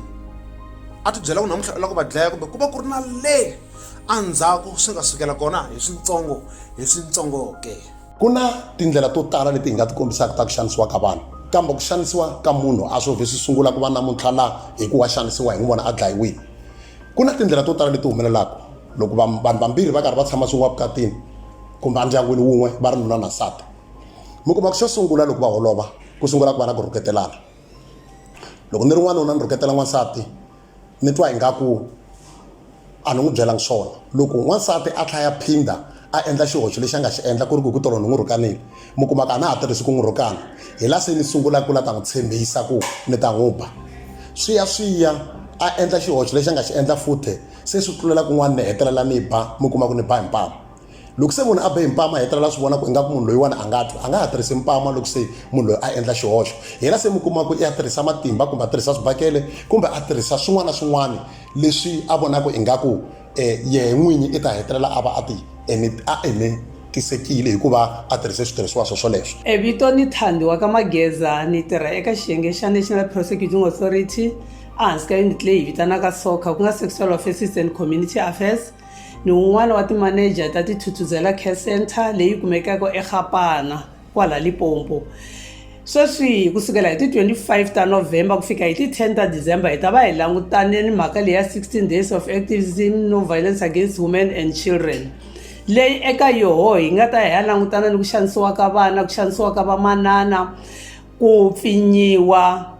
a ti byela ku namuntlha u lava ku va dlaya kumbe ku va ku ri na le Endzhaku swi nga sukela kona hi swintsongo hi swintsongo ke. Ku na tindlela to tala leti hi nga ti kombisaka ta ku xanisiwa ka vanhu. Kambe ku xanisiwa ka munhu a swo vhe swi sungula ku va namuntlha la hi ku wa xanisiwa hi n'wi vona a dlayiwile. Ku na tindlela to tala leti humelelaka loko vanhu vambirhi va karhi va tshama swin'we evukatini kumbe endyangwini wun'we va ri nuna na nsati. Mi kuma ku xo sungula loko va holova ku sungula ku va na ku rhuketelana. Loko ni ri n'wanuna ni rhuketela n'wansati, ni twa ingaku a ni n'wi byelanga swona loko n'wansati a tlhaya phinda a endla xihoxo lexi a nga xi endla ku ri ku hi ku tolo ni n'wi rhukanile mi kuma ku a na ha tirhisi ku n'wi rhukana hi la se ni sungula ku la ta n'wi tshembisa ku ni ta n'wi ba swi ya swi ya a endla xihoxo lexi a nga xi endla futhe se swi tlulela kun'wana ni hetelela ni ba mi kuma ku ni ba hi mpama loko se munhu a be hi mpama hetelela swi vona ku ingaku munhu loyiwani a nga twa a nga ha tirhisi mpama loko se munhu loyi a endla xihoxo yena se mi kuma ku i ya tirhisa matimba kumbe a tirhisa swibakele kumbe a tirhisa swin'wana na swin'wana leswi a vonaka ingaku um eh, yehe n'winyi i ta hetelela a va a ti a enetisekile hikuva a tirhise switirhisiwa swo swoleswo e vito ni thandi wa ka mageza ni tirha eka xiyenge xa national prosecuting authority ehansi ka unit leyi hi vitanaka soca ku nga sexual offenses and community affairs ni un'wana wa timaneja ta Tithuthuzela Care Centre leyi kumekaka eGapana kwala Limpopo. Sweswi ku sukela hi ti 25 ta November ku fika hi ti 10 ta December hi ta va hi langutane ni mhaka leyi ya 16 days of activism no violence against women and children leyi eka yoho hi nga ta hi ya langutana ni ku xanisiwa ka vana ku xanisiwa ka vamanana ku pfinyiwa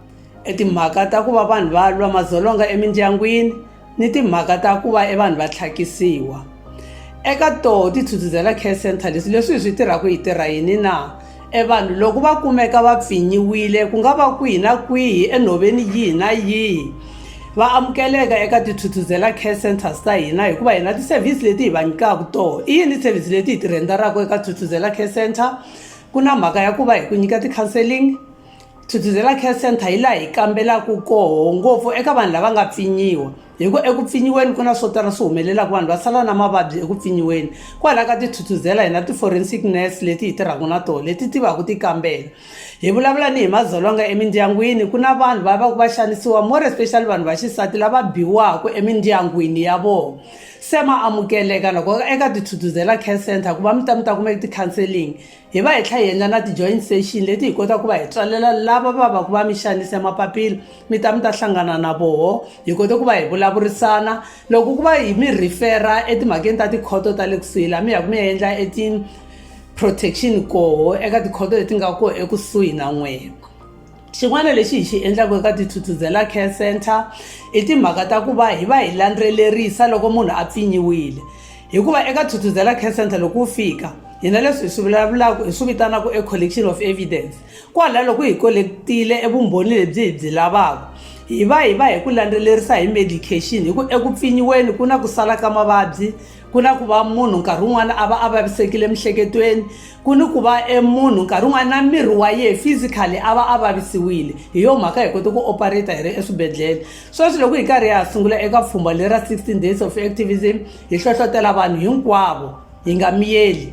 timhaka ta ku va vanhu va lwa madzolonga emindyangwini ni timhaka ta ku va e vanhu va tlhakisiwa eka toho ti thuthuzela care center leswi leswi hi swi tirhaka hi tirha yini na e vanhu loko va kumeka va pfinyiwile ku nga va kwihi na kwihi enhoveni yihi na yihi va amukeleka eka tithuthuzela care centers ta hina hikuva hina ti-service leti hi va nyikaka toho i yini service leti hi ti rhendaraka eka thuthuzela care center ku na mhaka ya ku va hi ku nyika ti-counseling Thuthuzela Care Centre hi laha hi kambelaka koho ngopfu eka vanhu lava nga pfinyiwa hi ku eku pfinyiweni ku na swo tala swi humelelaka vanhu va sala na mavabyi eku pfinyiweni kwalaho ka tithuthuzela hi na ti-forensic nurse leti hi tirhaka na tona leti tivaka ti kambela hi vulavula ni hi madzolonga emindyangwini ku na vanhu va va ku va xanisiwa more especially vanhu va xisati lava biwaka emindyangwini ya vona se ma amukeleka loko eka tithuthuzela Care Centre ku va mi ta mi ta kumeka ti-counselling. Hi va hi tlha hi endla na ti-joint session leti hi kotaka ku va hi tswalela lava va va ku va mi xanise mapapila mi ta mi ta hlangana na voho hi kote ku va hi vulavurisana loko ku va hi mi refera etimhakeni ta tikhoto ta le kusuhi laha mi ya ku mi ya endla eti-protection koho eka tikhoto leti nga koho ekusuhi na n'wina. xin'wana lexi hi xi endlaka eka tithuthuzela care center i timhaka ta ku va hi va hi landzelerisa loko munhu a pfinyiwile hikuva eka thuthuzela care center loko wu fika hina leswi hi swi vulavulaka hi swi vitanaka e collection of evidence kwala loko hi collectile e vumbhoni lebyi hi byi lavaka hi va hi va hi ku landzelerisa hi medication hi ku eku pfinyiweni ku na ku sala ka mavabyi ku na ku va munhu nkarhi wun'wana a va a vavisekile emiehleketweni ku ni ku va emunhu nkarhi wun'wana na miri wa yehe physically a va a vavisiwile hi yo mhaka hi kote ku operata hi ri eswibedhlele sweswi loko hi karhi hi ha sungula eka pfhumba leri ra 16 days of activism hi hlohlotela vanhu hinkwavo hi nga miyeli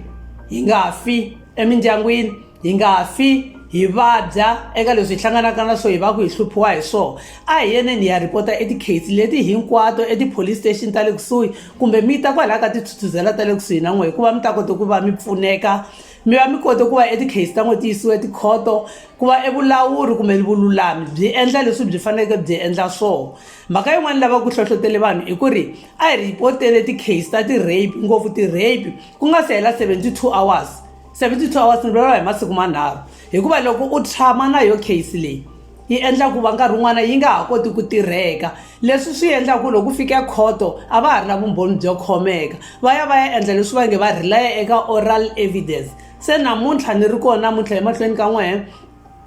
hi nga fi emindyangwini hi nga fi hi vabya eka leswi hi hlanganaka na swo hi va ku hi hluphiwa hi swona a hi yeneni hi ya rhipota etikheyisi leti hinkwato etipolice station ta le kusuhi kumbe mi ta kwalaho ka tithuthuzela ta le kusuhi na n'we hikuva mi ta kota ku va mi pfuneka mi va mi kote ku va etikheyisi ta n'we ti yisiwa tikhoto ku va evulawuri kumbe vululami byi endla leswi byi faneleke byi endla swona mhaka yin'wana lava ku hlohlotele vanhu i ku ri a hi rhipotele tikheyisi ta ti-rape ngopfu ti-rape ku nga si hela seventy two hours 72 hours ni vuriwa hi masiku manharhu hikuva loko u tshama na yo case leyi yi endla ku va nkarhi wun'wana yi nga ha koti ku tirheka leswi swi endla ku loko fika khoto a va ha ri na vumbhoni byo khomeka va ya va ya endla leswi va nge va relaya eka oral evidence se namuntlha ni ri kona namuntlha emahlweni ka n'wehe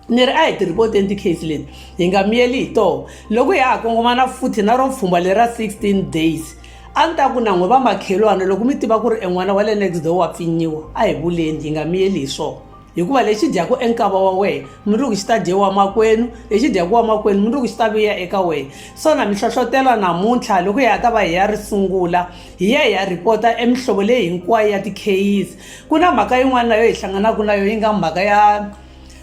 ni ri a hi tirhipoteni tikheyisi leti hi nga miyeli hi toho loko ya ha kongomana futhi na ro pfhumba lera 16 days a ni ta ku nan'we va makhelwana loko mi tiva ku ri en'wana wa le next door wa pfinyiwa a hi vuleni hi nga miyeli hi swona hikuva lexi dyaku enkava wa wena mundzuku xi ta dyewa makwenu lexi dyaku wa makwenu mundzuku xi ta vuya eka wena so na mi hlohlotela namuntlha loko hi ya ta va hi ya ri sungula hi ya hi ya rhipota emihlovo leyi hinkwayo ya tikheyisi Ku na mhaka yin'wana na yo hi hlanganaka na yo yi nga mhaka ya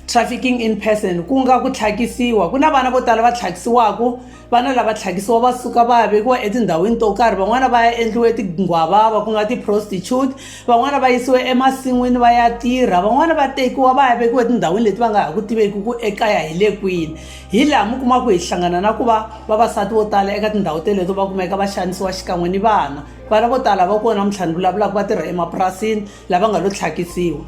trafficking in person ku nga ku tlhakisiwa ku na vana vo tala va tlhakisiwaka vana lava tlhakisiwa va suka va ya vekiwa etindhawini to karhi van'wana va ya endliwe tinghwavava ku nga ti-prostitute van'wana va yisiwe emasin'wini va ya tirha van'wana va tekiwa va ya vekiwa etindhawini leti va nga ha ku tiveki ku ekaya hi le kwini hi laha mi kumaka ku hi hlangana na ku va vavasati vo tala eka tindhawu teleto va kumeka va xanisiwa xikan'we ni vana vana vo tala va kona mintlhanu vulavulaka va tirha emapurasini lava nga lo tlhakisiwa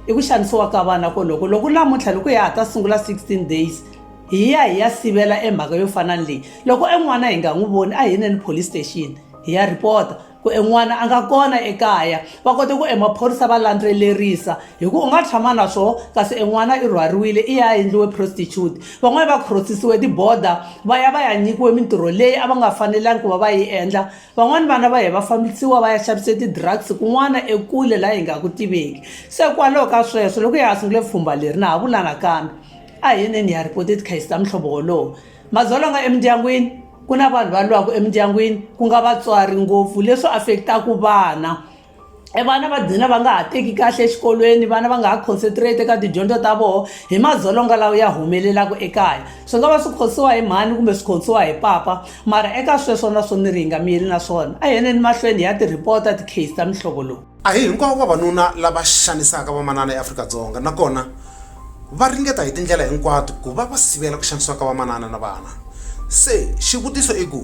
i ku xanisiwa ka vana koloko loko lamuntlha loko hi ya ha ta sungula 16 days hi ya hi ya sivela emhaka yo fana ni leyi loko en'wana hi nga n'wi voni a hi neni police station hi ya rhipota ku en'wana a nga kona ekaya va kote ku emaphorisa va landzelerisa hi ku u nga tshama na swona kasi en'wana i rhwariwile i ya endliwe prostitute van'wani va crossisiwe tiborder va ya va ya nyikiwe mintirho leyi a va nga fanelangi ku va va yi endla van'wani vana va hi va fambisiwa va ya xavise ti-drugs kun'wana ekule laha hi nga ku tiveki se kwalaho ka sweswo loko hi ha sungule pfhumba leri na ha vula nakambe a hi yineni hi ya ripota tikhayisi ta muhlovo wolowo madzolonga emindyangwini ku na vanhu va lwaka emindyangwini ku nga vatswari ngopfu leswi affect-aku vana e vana va dina va nga ha teki kahle exikolweni vana va nga ha concentrate eka tidyondzo ta vona hi madzolonga lawa ya humelelaka ekaya swi nga va swi khosiwa hi mhani kumbe swi khosiwa hi papa mara eka sweswo na swo ni ri hi nga miyeli na swona a hi yeneni mahlweni ya tirhipota ti-case ta mihlovo lowu a hi hinkwavo vavanuna lava xanisaka vamanana eafrika-dzonga nakona va ringeta hi tindlela hinkwato ku va va sivela ku xanisiwa ka vamanana na vana se xivutiso i ku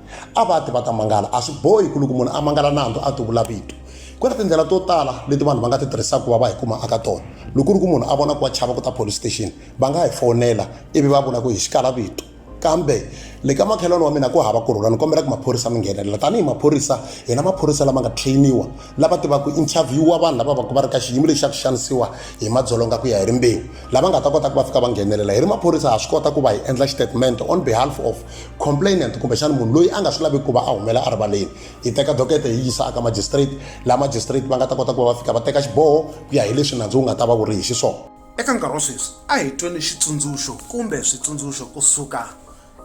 a va ti va ta mangala a swi bohi ku loko munhu a mangala nandzu a ti vula vito ku na tindlela to tala leti vanhu va nga ti tirhisaka ku va va hi kuma aka tona loko ku ri ku munhu a vona ku wa chava ku ta police station va nga hi fonela ivi va vula ku hi xikala vito kambe le ka makhelwani wa mina ku hava ku rhula ni kombela ku maphorisa mi nghenelela tanihi maphorisa hina maphorisa lama nga trainiwa lava tivaka interviewa vanhu lava vaku va ri ka xiyimo lexi xa ku xanisiwa hi madzolonga ku ya hi rimbewu lava nga ta kota ku va fika va nghenelela hi ri maphorisa ha swi kota ku va hi endla xitatimende on behalf of complainant kumbexana munhu loyi a nga swi laviki ku va a humela erivaleni yi teka dokete yi yisa aka magistrate laha magistrate va nga ta kota ku va va fika va teka xiboho ku ya hi leswi nandzu wu nga ta va wu ri hi xiswona eka nkarhi wa sweswi a hi tweni xitsundzuxo kumbe switsundzuxo kusuka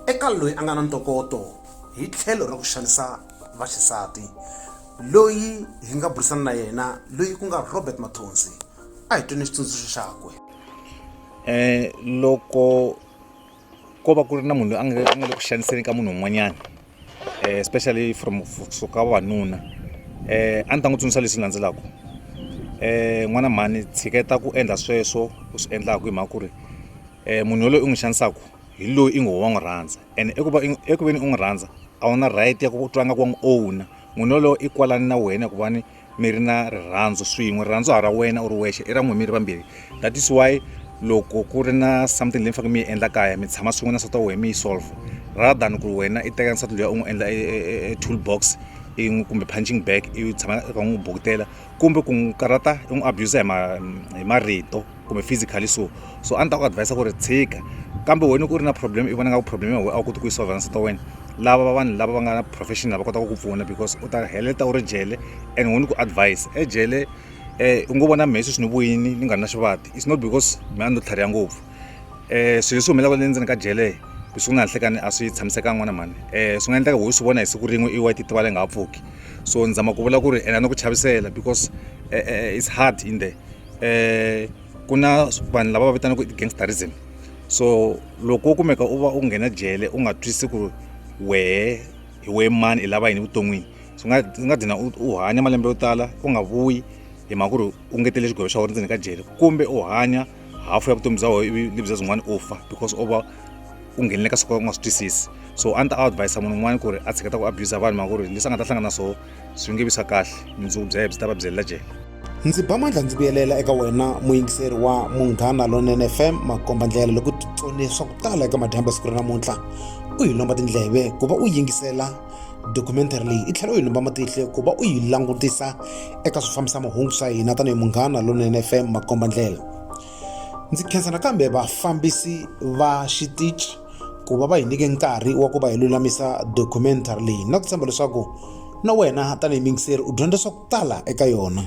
eka loyi a nga na ntokoto hi tlhelo ra ku xanisa vaxisati loyi hi nga burisana na yena loyi ku nga robert mathonsi a hi tweni xitsundzuxo xakwe um loko ko va ku ri na munhu loyi a nga a nga le ku xaniseni ka munhu un'wanyana especially from kusuka vavanuna a ndzi ta n'wi tsundzuxa leswi landzelaka n'wana mhani tshiketa ku endla sweswo u swi endlaka hi mhaka ku ri munhu yaloye u n'wi xanisaka hi loyi i ngo wa n'wi rhandza and i ku va eku veni u n'wi rhandza a wu na right ya ku twa nga ku wa n'wi owner munhu yaloye i kwalani na wena hikuva ni. mi ri na rirhandzu swin'we rirhandzu ha ra wena u ri wexe i ra n'we mi ri vambirhi that is why loko ku ri na something leyi mi faneke mi yi endla kaya mi tshama swin'we na nsati wa wena mi yi solve rather than ku ri wena i teka nsati luya u n'wi endla e, e, e, e tool box i n'wi kumbe punching bag i tshama i kha n'wi bukutela kumbe ku n'wi karata i n'wi abuser hi marito kumbe physically so so a ni ta ku advise ku ri tshika kambe wena ku ri na problem i vona nga ku problem ya wena a wu koti ku yi solve na nsati wa wena lava vanhu lava va nga na profession lava kotaka ku pfuna because u ta heleta u ri jele and wena ku advise ejele um u ngo vona mehe sweswi ni vuyini ni nga ri na xivati it's not because me a ni lo tlhariha ngopfu um swilo leswi humelelaka le ndzeni ka jele leswi ku nga nhlekani a swi tshamisekanga n'wana mhani um swi nga endleka wo swi vona hi siku rin'we i wa ti tiva leyi nga ha pfuki so ni zama ku vula ku ri and a ni ku chavisela because it's hard in there ku na vanhu lava va vitanaka gangsterism so loko wo kumeka u va u nghena jele u nga twisisi ku ri wehe hi wehe mani i lava yini evuton'wini swi nga swi nga dlina u hanya malembe yo tala u nga vuyi hi mhaka ku ri u ngetele xigwevo xa wena ndzeni ka jele kumbe u hanya hafu ya vutomi bya wena ivi lebyi bya byin'wana u fa because u va u nghenele ka swo ka u nga swi twisisi so a ni ta advis-a munhu un'wana ku ri a tshiketa ku abuser vanhu hi mhaka ku ri leswi a nga ta hlangana na swona swi nge vi swa kahle vumundzuku bya ye byi ta va byelela jele ndzi ba mandla ndzi vuyelela eka wena muyingiseri wa munghana lonene fm makomba ndlela loko titsone swa ku tala eka madyambu ya siku ra namuntlha u yi lomba tindleve ku va u yingisela documentary leyi i tlhela u yi lomba matihlo ku va u yi langutisa eka swi fambisa mahungu swa hina tanihi munghana lonene fm makomba ndlela ndzi khensa nakambe vafambisi va xitichi ku va va hi nyike nkarhi wa ku va hi lulamisa documentary leyi na ku tshemba leswaku na wena tanihi mingiseri u dyondza swa ku tala eka yona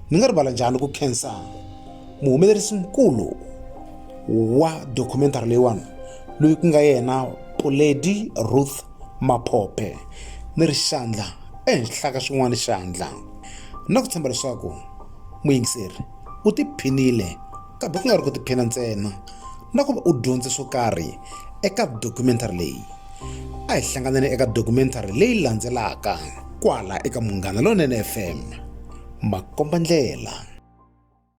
ni nga rivala njhani ku khensa muhumelerisi mukulu wa documentary leyiwani loyi ku nga yena puledi ruth maphophe ni ri xandla ehenhla ka xin'wana xandla na ku tshemba leswaku muyingiseri u tiphinile kambe ku nga ri ku tiphina ntsena na ku va u dyondze swo karhi eka documentary leyi a hi hlanganeni eka documentary leyi landzelaka kwala eka munghana lonene fm makomba ndlela